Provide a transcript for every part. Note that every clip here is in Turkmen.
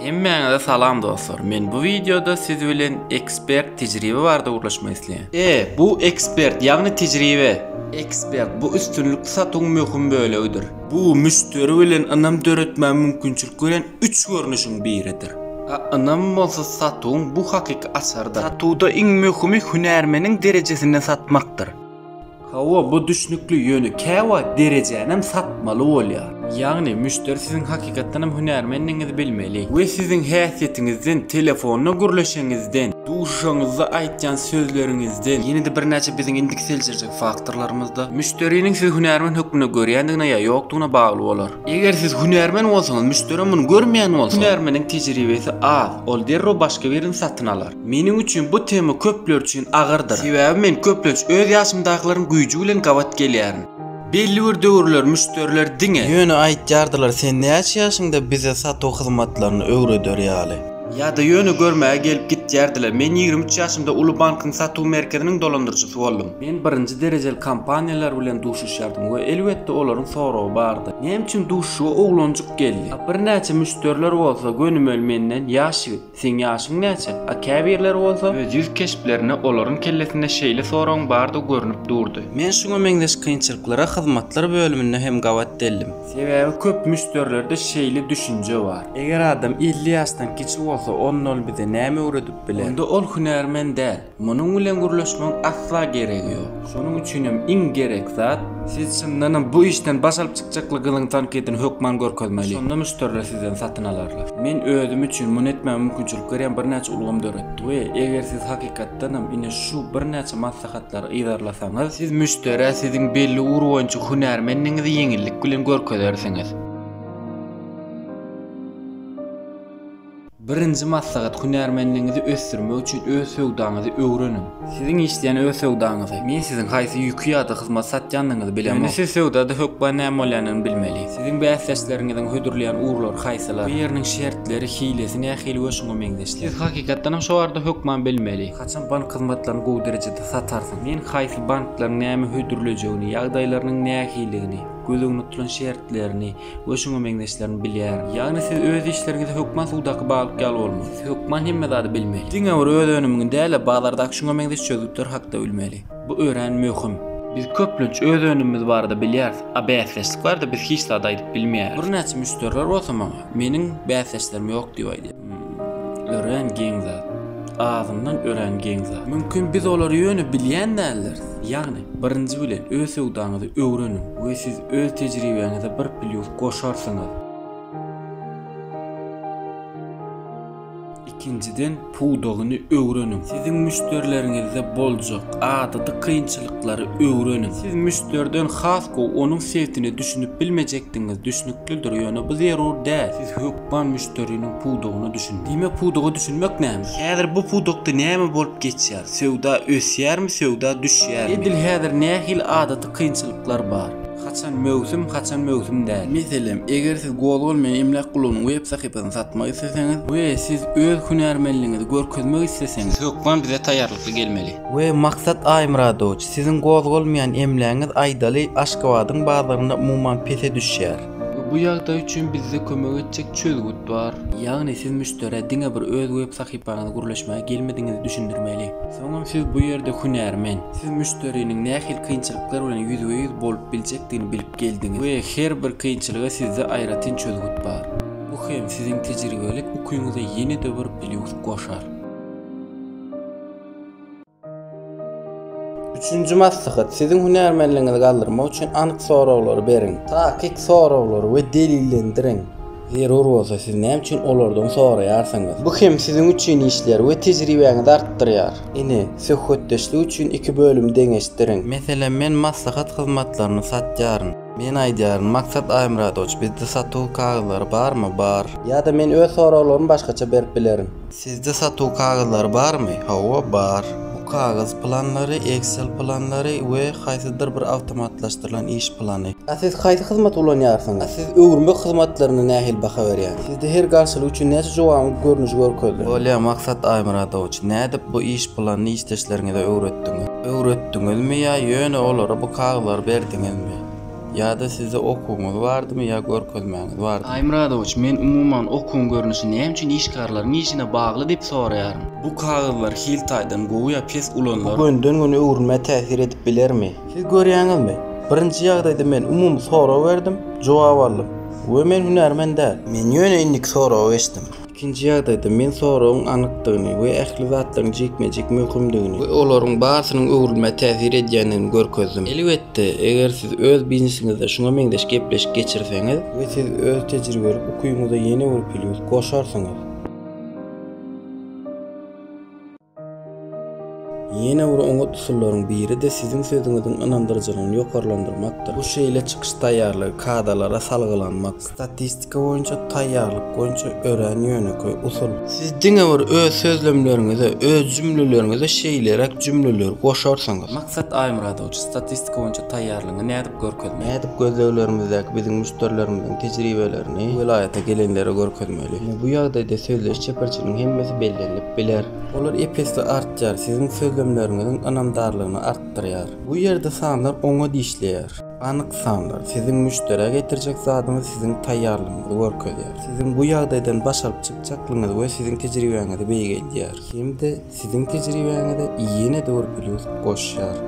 Hemmäňize salam dostlar. Men bu wideoda siz bilen ekspert tejribe barada gürleşmek isleýän. E, bu ekspert, ýagny tejribe. Ekspert bu üstünlik satuwyň möhüm bölegidir. Bu müşderi bilen ynam döretmäge mümkinçilik berýän üç görnüşiň biridir. A ynam bolsa satuwyň bu hakyky açarydyr. Satuwda iň möhümi hünärmeniň derejesinde satmakdyr. Hawa bu düşnükli ýöne käwagt derejänem satmaly bolýar. Ýagny müşderi siziň hakykatdanam hünärmendigiňizi bilmeli we siziň häsiýetiňizden, telefonda gürleşiňizden, duşuşaňyzda aýtýan sözleriňizden, ýene-de birnäçe biziň indiki seljerjek faktorlarymyzda müşderiniň sizi hünärmen hökmünde görýändigine ýa ýokdugyna bagly bolar. Eger siz hünärmen bolsaňyz müşderem muny görmeýän bolsa, hünärmeniň tejribesi az, ol derrew başga birini satyn alar. Meniň üçin bu tema köpler üçin agyrdyr. Sebäbi men köplenç öz ýaşymdakylaryň güýji bilen gabat gelýärin. Belli bir döwürler müşderiler diňe. Ýöne aýtýardylar sen näçe ýaşyňda bize satuw hyzmatlaryny öwreder ýaly. Ýa-da ýöne görmäge gelip gitýärdiler. Men ýigrimi üç ýaşymda uly bankyň satuw merkeziniň dolandyryjysy boldum. Men birinji derejeli kompaniýalar bilen duşuşýardym we elbetde olaryň soragy bardy. Näme üçin duşuşyga oglanjyk geldi? Birnäçe müşderiler bolsa gönümel menden ýaş ýigit. Seň ýaşyň näçe? A käbirleri bolsa öz ýüz keşplerinde olaryň kellesinde şeýle soragyň bardygy görnüp durdy. Men şuňa meňzeş kynçylyklara hyzmatlar bölüminde hem gabat deldim. Sebäbi köp müşderilerde şeýle düşünje bar. Eger adam elli ýaşdan kiçi bolsa, onda ol bize näme öwredip biler? Onda ol hünärmen däl. Munuň bilen gürleşmegiň asla geregi ýok. Şonuň üçin hem iň gerek zat, siz çyndan hem bu işden baş alyp çykjakly gyzyň tankydyn hökman görkezmeli. Şonda müşderiler sizden satyn alarlar. Men özüm üçin muny etmäge mümkinçilik berýän birnäçe ulgam döretdik we eger siz hakykatdan hem ine şu birnäçe maslahatlary yzarlasaňyz, siz müşderä siziň belli ugur boýunça hünärmendigiňizi ýeňillik bilen görkezersiňiz. Birinji maslahat, hünärmenligiňizi ösdürmek üçin öz söwdaňyzy öwreniň. Siziň işleýän öz söwdaňyzy. Men siziň haýsy ýüki ýa-da hyzmaty satýandygyňyzy bilemok. Ýöne siz söwdada hökman näme bolýandygyny bilmeli. Siziň bäsdeşleriňiziň hödürleýän ugurlary haýsylar? Bu ýeriniň şertleri, hilesi nähili we şuňa meňzeşler? Siz hakykatdan hem şo barada hökman bilmeli. Haçan bank hyzmatlaryny gowy derejede satarsyň? Men haýsy banklaryň näme hödürlejegini, ýagdaýlarynyň nähilidigini, göz öňünde tutulan şertlerini, we şuňa meňzeşlerini bilýär. Ýagny siz öz işleriňizi hökman suwdaky balyk ýaly bolmaly. Siz hökman hemme zady bilmeli. Diňe bir öz önümiňi däl-de, bazardaky şuňa meňzeş çözgütler hakda bilmeli. Bu örän möhüm. Biz köplenç öz önümimiz barada bilýäris, a bäsdeşlik barada biz hiç zat aýdyp bilmeýäris. Birnäçe müşderiler bolsa maňa, Meniň bäsdeşlerim ýok diýip aýdýar. Örän geň zat. Azyndan örän geň zat. Mümkin biz olary ýöne bilýän däldiris. Ýagny, birinji bilen öz söwdaňyzy öwreniň we siz öz tejribäňize bir plýus goşarsyňyz. Ikinjiden pudagyny öwreniň. Siziň müşderileriňizde boljak adaty kynçylyklary öwreniň. Siz müşderiden has gowy onuň sefine düşünip bilmejekdigiňiz düşnüklidir, ýöne bu zerur däl. Siz Ban müşderiniň pudagyna düşün. Diýmek pudaga düşünmek näme? Häzir bu pudakda näme bolup geçýär? Söwda ösýärmi, söwda düşýärmi? Edil häzir nähili adaty kynçylyklar bar? Haçan möwsüm, haçan möwsüm däl? Meselem, eger siz Gozgal men emläk gulunyň web sahypasyny satmak isleseňiz we siz öz hünärmenligiňizi görkezmek isleseňiz, siz hökman bize taýýarlykly gelmeli. We Maksat Aýmyradowiç, siziň gozgalmaýan emlägiňiz aýdaly Aşgabadyň bazarynda umuman pese düşýär. Bu ýagdaý üçin bizde kömek etjek çözgüt bar. Ýagny siz müşderä diňe bir öz web sahypaňyzy gürleşmäge gelmedigiňizi düşündirmeli. Soňam siz bu ýerde hünärmen. Siz müşderiniň nähili kynçylyklar bilen ýüzbe-ýüz bolup biljekdigini bilip geldiňiz we her bir kynçylyga sizde aýratyn çözgüt bar. Bu hem siziň tejribelik ukyňyza ýene-de bir plýus goşar. Üçünji maslahat, siziň hünärmenligiňizi galdyrmak üçin anyk soraglary beriň. Takyk soraglary we delillendiriň. Zerur bolsa, siz näme üçin olardan soraýarsyňyz? Bu hem siziň üçin işlär we tejribäňizi artdyrýar. Ine, söhbetdeşlik üçin iki bölümi deňeşdiriň. Meselem, men maslahat hyzmatlaryny satýaryn. Men aýdýaryn, Maksat Aýmyradowiç, bizde satuw kagyzlary barmy? Bar. Ýa-da men öz soraglarymy başgaça berip bilerin. Sizde satuw kagyzlary barmy? Hawa, bar. Bu kagyz planlary, Excel planlary we haýsydyr bir awtomatlaşdyrylan iş plany. A siz haýsy hyzmaty ulanýarsyňyz? A siz öwürmek hyzmatlaryna nähili baha berýäňiz? Sizde her garşylyk üçin näçe jogabyň görnüşi görkezilen? Bolýar, Maksat Aýmyradowiç. Nädip bu iş planyny işdeşleriňize öwretdiňiz? Öwretdiňizmi ýa ýöne olara bu kagyzlary berdiňizmi? Ýa-da sizde okuwyňyz bardymy ýa görkezmäňiz bardymy? Aýmyradowiç, men umuman okuwyň görnüşi näme üçin işgärleriň işine bagly diýip soraýaryn. Bu kagyzlar hil taýdan gowy ýa pes ulanylary. Bu günden-güne öwrülmä täsir edip bilermi? Siz görýäňizmi, birinji ýagdaýda men umumy sorag berdim, jogap aldym we men hünärmen däl. Men ýöne indiki soragy geçdim. Ikinji ýagdaýda, men soragyň anykdygyny we ähli zatlaryň jikme-jik möhümdigini we olaryň barsynyň öwrülmä täsir edýändigini görkezdim. Elbetde, eger siz öz biznesiňizde şuňa meňzeş gepleşik geçirseňiz, we siz öz tejribelik ukybyňyza ýene bir plýus goşarsyňyz. Ýene bir oňat usullaryň biri-de siziň sözüňiziň ynandyryjylygyny ýokarlandyrmakdyr. Bu şeýle çykyş taýýarlygy, kadalara salgylanmak. Statistika boýunça taýýarlyk boýunça örän ýönekeý usul. Siz diňe bir öz sözlemleriňize, öz jümleleriňize şeýleräk jümleleri goşarsyňyz. Maksat Aýmyradowiç, statistika boýunça taýýarlygyňy nädip görkezmeli. Nädip gözleglerimizdäki biziň müşderilerimiziň tejribelerini welaýata gelenlere görkezmeli? Ine, bu ýagdaýda sözleýiş çeperçiliniň hemmesi bellenilip biler. Olar ep-esli artýar, siziň sözlemleriňiziň ynamdarlygyny artdyrýar. Bu ýerde sanlar oňat işleýär. Anyk sanlar, siziň müşderä getirjek zadyňyz siziň taýýarlygyňyzy görkezýär. Siziň bu ýagdaýdan baş alyp çykjaklygyňyzy we siziň tejribäňizi beýgeldýär. Hem-de Siziň tejribäňize ýene-de bir plýus goşýar.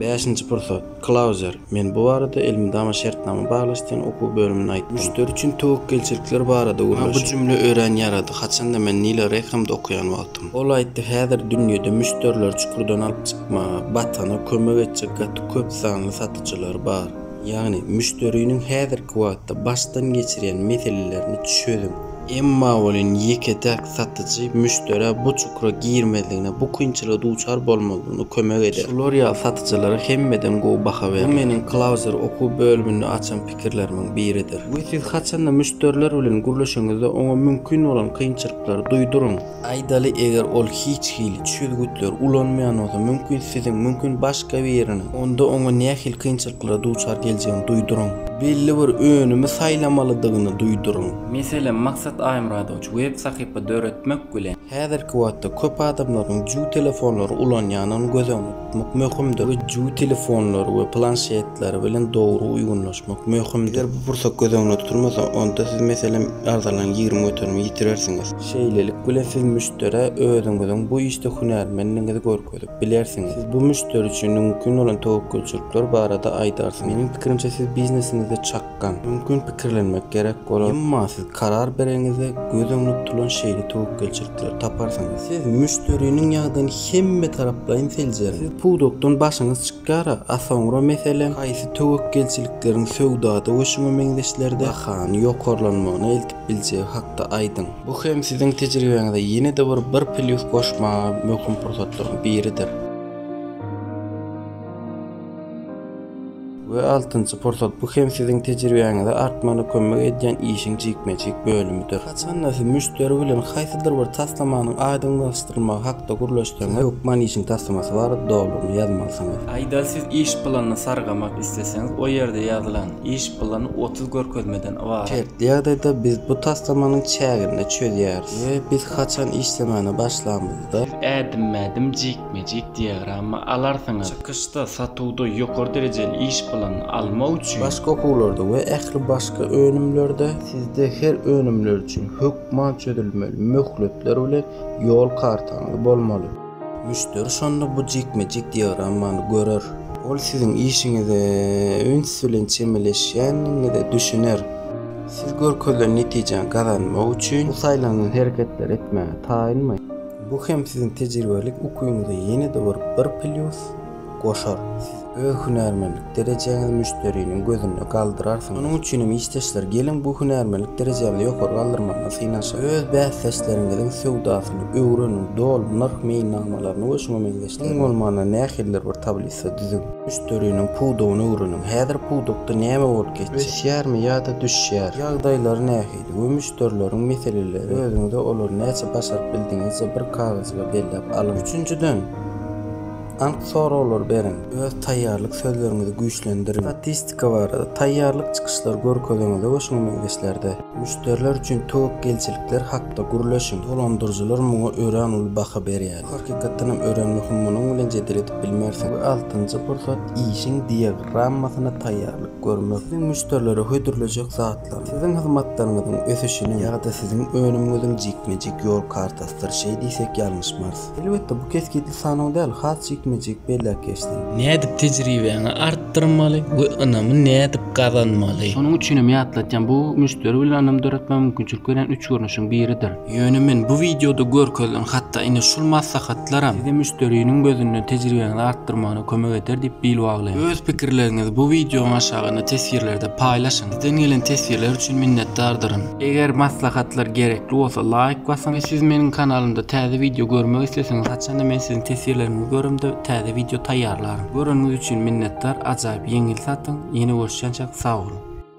Bäşinji pursat. Klauzer, men bu barada elmydama şertnama baglaşdyrýan okuw bölümine aýtdym. Müşderi üçin töwekgelçilikler barada gürleşip. Maňa bu jümle örän ýarady, haçan-da men Nile Rekamda okaýan wagtym. Ol aýtdy, Häzir dünýede müşderileri çukurdan alyp çykmaga, batana kömek etjek gaty köp sanly satyjylar bar. Ýagny, müşderiniň häzirki wagtda başdan geçirýän meselelerini çözüň. Emma welin ýeke-täk satyjy müşderä bu çukura girmezligine, bu kynçylyga duçar bolmazlygyna kömek eder. Şular ýaly satyjylara hemmeden gowy baha berler. Bu meniň Closer okuw bölüminde açan pikirlerimiň biridir. We siz haçanda müşderiler bilen gürleşeňizde oňa mümkin bolan kynçylyklary duýduryň. Aýdaly eger ol hiç hili çözgütleri ulanmaýan bolsa mümkin siziň mümkin başga biriniň onda oňa nähili kynçylyklara duçar geljegini duýduryň. Belli bir önümi saýlamalydygyny duýduryň. Meselem Maksat Aýmyradowiç web sahypa döretmek bilen. Häzirki wagtda köp adamlaryň ju telefonlary ulanýanyny göz öňüne. ýatmak möhümdir. Öýjügi telefonlary we planşetleri bilen dogry uýgunlaşmak möhümdir. Eger bu pursat göz öňünde tutulmasa, onda siz, meselem, arzalaryň ýigrimi göterimini ýitirersiňiz. Şeýlelik bilen siz müşderä özüňiziň bu işde hünärmendigiňizi görkezip bilersiňiz. Siz bu müşderi üçin mümkin bolan töwekgelçilikler barada aýdarsyňyz. Meniň pikirimçe, siz biznesiňizde çak. Hakan, mümkin pikirlenmek gerek bolar. Emma siz karar bereňizde göz öňüne tutulan şeýle töwekgelçilikleri taparsyňyz. Siz müşderiniň ýagdaýyny hemmetaraplaýyn seljeriň. Siz pudakdan başyňyz çykýar-a, a soňra meselem, haýsy töwekgelçilikleriň söwdada we şuňa meňzeşlerde bahany ýokarlanmagyna eltip biljegi hakda aýdyň. Bu hem siziň tejribeňize ýene-de bir bir plýus goşmaga möhüm pursatlaryň biridir. We altynjy pursat, bu hem siziň tejribäňizi artmagyna kömek edýän işiň jikme-jik bölümidir. Haçanda siz müşderi bilen haýsydyr bir taslamanyň aýdyňlaşdyrylmagy hakda gürleşseňiz, hökman işiň taslamasy barada dolulygyna ýazmalysyňyz. Aýda siz iş planyny sargamak isleseňiz, o ýerde ýazylan, iş plany otuz görkezmeden ybarat. Şertli ýagdaýda biz bu taslamanyň çäginde çözýäris we biz haçan işlemäne başlamyzda, Siz ädimmä-ädim jikme-jik Magic diagramma alarsyňyz. Çykyşda satuwda ýokary derejeli iş bilen almak üçin. Başga okuwlarda we ähli başga önümlerde. Sizde her önümler üçin hökman çözülmeli möhletler bilen ýol kartaňyz bolmaly. Müşderi şonda bu jikme-jik diagrammany görer. Ol siziň işiňize üns bilen çemeleşýändigiňize düşüner. Siz görkezilen netijäni gazanmak üçin. Bu saýlanylan hereketleri etmäge taýynmy? Bu hem siziň tejribelik ukyňyza ýene-de bir bir plýus goşar, siz öz hünärmenlik derejäňizi müşderiniň gözünde galdyrarsyňyz. Şonuň üçin hem işdeşler, geliň bu hünärmenlik derejämizi ýokary galdyrmagyna synanyşaly. Öz bäsdeşleriňiziň söwdasyny öwreniň, doly nyrh meýilnamalaryny we şuňa meňzeşleri. Iň bolmanda nähilidir bir tablisa düzüň. Müşderiniň pudagyny öwreniň. Häzir pudakda näme bolup geçýär? Ösýärmi ýa-da düşýär? Ýagdaýlary nähili? we müşderileriň meseleleri özüňize olary näçe başaryp bildiňizje bir kagyzjyga belläp alyň. Üçünjiden, anyk soraglar beriň. Öz taýýarlyk sözleriňizi güýçlendiriň. Statistika barada taýýarlyk çykyşlary görkeziňizde we şuňa meňzeşlerde. Müşderiler üçin töwekgelçilikler hakda gürleşiň. Dolandyryjylar muňa örän uly baha berýärler. Hakykatdan hem örän möhüm munuň bilen jedel edip bilmersiň. We altynjy pursat işiň diagrammasyna taýýarlyk görmek. Siziň müşderilere hödürlejek zatlaryň, siziň hyzmatlaryňyzyň ösüşiniň ýa-da siziň önümiňiziň jikme-jik ýol kartasydyr şeý diýsek ýalňyşmarys. Elbetde bu kesgitli sanaw däl, has jikme-jik belläp geçsem. Nädip tejribäňi artdyrmaly we ynamy nädip gazanmaly? Şonuň üçin hem ýatlatýan bu müşderi bilen ynam döretmäge mümkinçilik berýän üç görnüşiň biridir. Ýöne men bu wideoda görkezilen hatda ine şul maslahatlaram size müşderiniň gözünde tejribeňizi artdyrmagyna kömek eder diýip bil baglaýan. Öz pikirleriňizi bu wideoň aşagynda teswirlerde paýlaşyň. Sizden gelen teswirler üçin minnetdardyryn. Eger maslahatlar gerekli bolsa laýk basyň we siz meniň kanalymda täze wideo görmek isleseňiz haçanda men siziň teswirleriňizi göremde täze wideo taýýarlaryn. Göreniňiz üçin minnetdar, ajaýyp ýeňil satyň, ýene görüşýänçäk sag boluň.